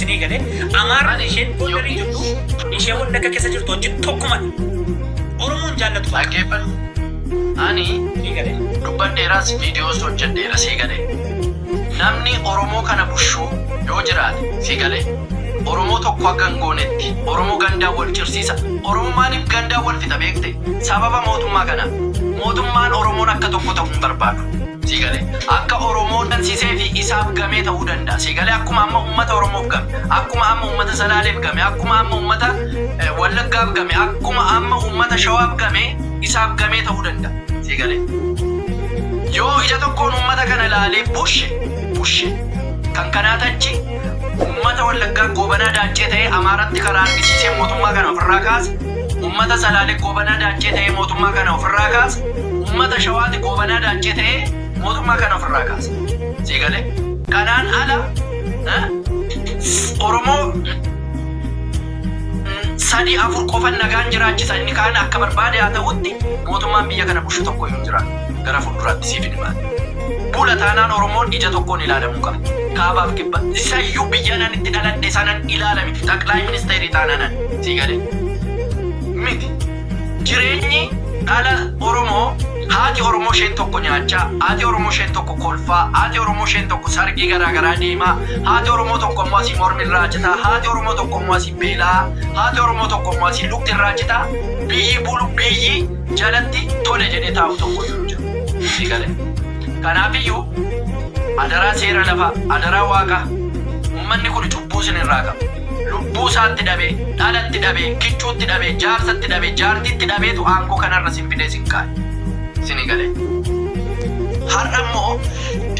Sinii galee Amaaraan isheen booldarii jirtu ishee wanni akka keessa jirtu wajjin tokkuma. Oromoon jaallatu baay'ee. Dhaggeeffadhu. Ani Sinii galee. dubbadheeraas viidiyoos hojjedheera sii galee. Namni Oromoo kana bushuu yoo jiraate sii galee. Oromoo tokko akka hin goonetti Oromoo gandaan wal cirsiisa. Oromoo maaliif gandaan wal fixa beekte? Sababa mootummaa kanaa. Mootummaan Oromoon akka tokko ta'u hin barbaadu. Sii galee? Akka Oromoon gansiseefi isaaf gamee ta'uu danda'a. Sii galee? Akkuma amma ummata Oromoof game, akkuma amma ummata Salaaleef game, akkuma amma ummata Wallaggaaf game, akkuma amma ummata Shawaaf game isaaf gamee ta'uu danda'a. Sii galee? Yoo ija tokkoon ummata kana ilaalee bushe, bushe. Kan kanaa tachi ummata Wallaggaa goobanaa daaccee ta'ee Amaaratti karaa argisiisee mootummaa kana ofirraa kaase Ummata Salaale Goobanaa Daancee ta'ee mootummaa kana ofirraa kaasa. Ummata Shawaati Goobanaa Daancee ta'ee mootummaa kana ofirraa kaasa. Sii gale? Kanaan ala Oromoo sadi afur qofan nagaan jiraachisa inni kaan akka barbaade haa ta'utti mootummaan biyya kana bushu tokko hin jira gara fuulduraatti siif hin himaati. Bula taanaan Oromoon ija tokkoon ilaalamuu qaba. Kaabaaf kibba. Isayyuu biyya nan itti dhaladhe sanan ilaalamiti. Xaqlaay ministeerii taanaanan. Sii galee? Miti. Jireenyi dhala Oromoo haati Oromoo isheen tokko nyaachaa, haati Oromoo isheen tokko kolfaa, haati Oromoo isheen tokko sargii garaa garaa deemaa, haati Oromoo tokko immoo asii mormi irraa citaa, haati Oromoo tokko immoo asii beelaa, haati Oromoo tokko immoo asii lukti irraa citaa, biyyi bulu biyyi jalatti tole jedhee taa'u tokko iyyuu hin jiru. Sii galee? Kanaaf iyyuu adaraa seera lafaa, adaraa waaqaa, ummanni kun cubbuu isin irraa qaba. Lubbuu isaatti dhabe, dhalatti dhabe, kichuutti dhabe, jaarsatti dhabe, jaartiitti dhabeetu aangoo kanarra isin fidee isin kaa'e. Isinii galee? Har'a immoo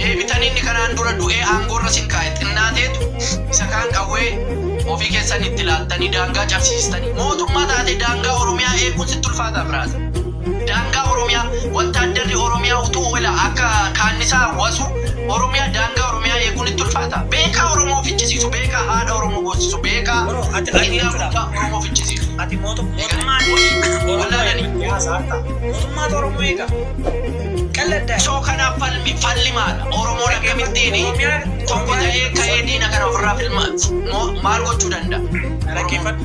deebitanii inni kanaan dura du'ee aangoorra isin kaa'e xinnaateetu isa kaan qawwee ofii keessan itti laattanii daangaa cabsiistanii mootummaa taatee daangaa Oromiyaa eeguun sitti ulfaataa biraas. Daangaa Oromiyaa, Wattaaddarri Oromiyaa utuu wela akka kaannisaa wasu Oromiyaa daangaa Oromiyaa eeguun itti ulfaata. Beekaa Oromoo fichisiisu, beekaa haadha Oromoo boosisu, beekaa hiriyaa guddaa Oromoo fichisiisu. Ati mootummaan wallaalanii. Yaa saartaa. Mootummaatu Oromoo eega. Qalladdaa. So kanaaf falmi falli maala? Oromoon akkamittiin tokko ta'ee ka'ee diina kana ofirraa filma maal gochuu danda'a? Dhaggeeffadhu.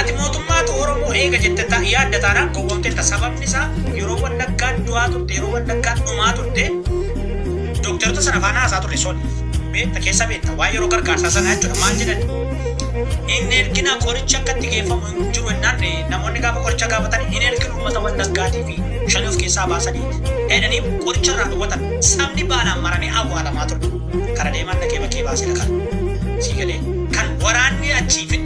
Ati mootummaatu Oromoo eega jette ta, yaadda taanaan gowwomteetta sababni isaa yeroo wallaggaan du'aa turte yeroo wallaggaan dhumaa turte dookterota sana faana haasaa turre soon beetta keessa beetta waan yeroo gargaarsaa sanaa jechuudha maal jedhan hin ergina qorichi akka itti geeffamu hin jiru jennaan namoonni gaafa qoricha gaafatan hin erginu uummata wallaggaatii fi shanii of keessaa baasanii jedhanii qoricha irraa dhowwatan sabni baalaan maramee awwaalamaa ture kara deemaan dhaqee bakkee baasee dhaqan sii galee kan waraanni achii fi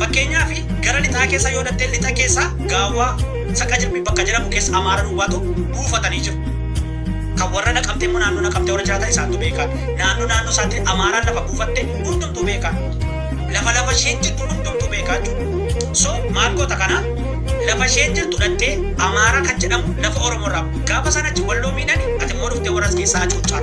Fakkeenyaaf gara lixaa keessa yoo dhaqxee lixa keessa gaawwaa saqa jirmi bakka jedhamu keessa amaara duwwaatu buufatanii jiru. Kan warra naqamtee immoo naannoo naqamtee warra jiraatan isaantu beekaa. Naannoo naannoo isaatti amaaraan lafa buufatte hundumtuu beekaa. Lafa lafa isheen jirtu hundumtuu beekaa jechuudha. So maal goota kana lafa isheen jirtu dhaqxee amaara kan jedhamu lafa oromoo irraa gaafa sana achi walloo miidhani ati immoo dhuftee warra as keessaa hacuuccaa.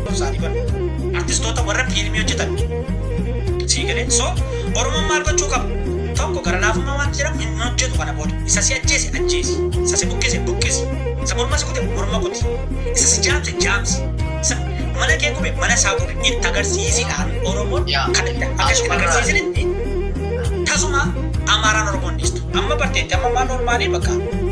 Saanii barre. Artistoota warra fiilmii hojjetan. Sii galee. So Oromoon maal gochuu qaba? Tokko gara laafummaa waan jedhamu hin hojjetu kana booda. Isa si ajjeese ajjeesi. Isa si buqqise buqqisi. Isa morma si kute morma kuti. Isa si jaamse jaamsi. Isa mana kee gube mana isaa gube itti agarsiisi dhaan Oromoon Yaa. kan itti akka itti Asumarraa. agarsiisanitti tasuma Amaaraan Oromoon dhiistu. Amma barteetti amma ammaa normaalii bakka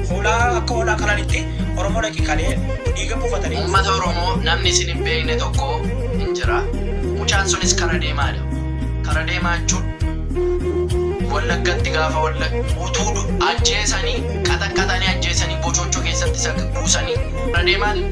hoolaa akka hoolaa qalanitti Oromoo dhaqi kalee dhiiga buufatanii. Uummata Oromoo namni isin hin beekne tokko hin jira. Mucaan sunis kara deemaa dha. Kara deemaa jechuun Wallaggatti gaafa Wallagga utuu du- ajjeesanii qaxaqqaxanii ajjeesanii bochochoo keessatti isa buusanii kara deemaan